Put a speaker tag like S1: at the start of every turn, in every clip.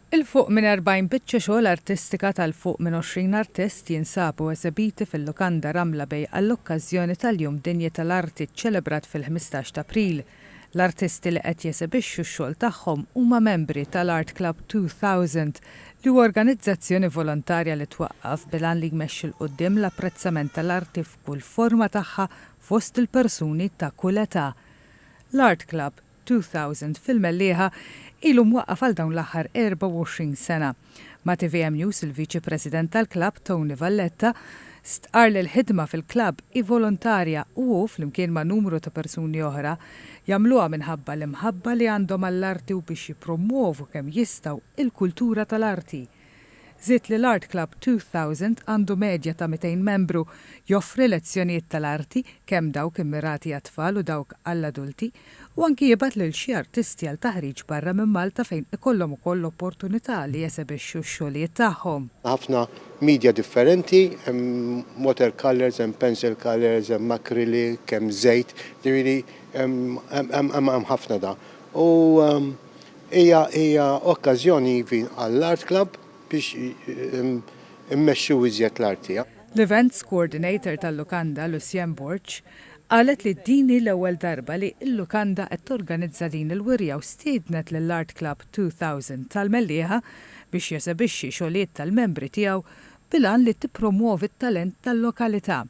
S1: 'l fuq minn 40 biċċa xogħol artistika ta' 'l fuq minn 20 artist jinsabu eżebiti fil-Lukanda Ramla Bay għall-okkażjoni tal-Jum Dinji tal-Arti ċċelebrat fil-ħmistax t'April. L-artisti li qed jesebixxu x-xogħol tagħhom huma membri tal-Art Club 2000 li huwa organizzazzjoni volontarja li twaqqaf bil-għan li jmexxi 'l quddiem l-apprezzament tal-arti f'kull forma tagħha fost il-persuni ta' kull età. L-Art Club 2000 fil-Mellieħa ilu mwaqqaf għal dawn l-aħħar 24 sena. Ma' tvm News il-Viċi President tal-klabb, Tony Valletta, stqarr li l-ħidma fil-klabb hi volontarja u hu, flimkien ma' numru ta' persuni oħra, jagħmluha minħabba l-imħabba li għandhom għall-arti u biex jippromwovu kemm jistgħu il-kultura tal-arti. Żied li l-Art Club 2000 għandu medja ta' 200 membru, joffri lezzjonijiet tal-arti, kemm dawk immirati għat-tfal u dawk għall-adulti, u anki jibgħat lil xi artisti għal taħriġ barra minn Malta fejn ikollhom ukoll l-opportunità li jesebixxu x-xogħlijiet tagħhom. Ħafna
S2: media differenti, hemm water colours, hemm pencil colours, hemm acrylic, hemm żejt, jiġifieri hemm ħafna da. U. Hija hija okkażjoni even għall-Art Club biex immexxu iżjed l-arti. L-Events
S1: Coordinator tal-lukanda, Lucienne Borg, qalet li din hi l-ewwel darba li l-lukanda qed torganizza din il-wirja u stiednet lill-Art Club 2000 tal-Mellieħa biex jesebixxi xogħlijiet tal-membri tiegħu bil-għan li tippromwovi t-talent tal-lokalità.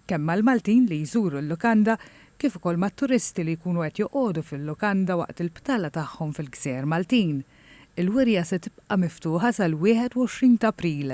S1: kemm mal-Maltin li jżuru l-lukanda kif ukoll mat-turisti li jkunu qed joqogħdu fil-lukanda waqt il-btala tagħhom fil-gżejjer Maltin. Il-wirja se tibqa' miftuħa sal-21 t'April.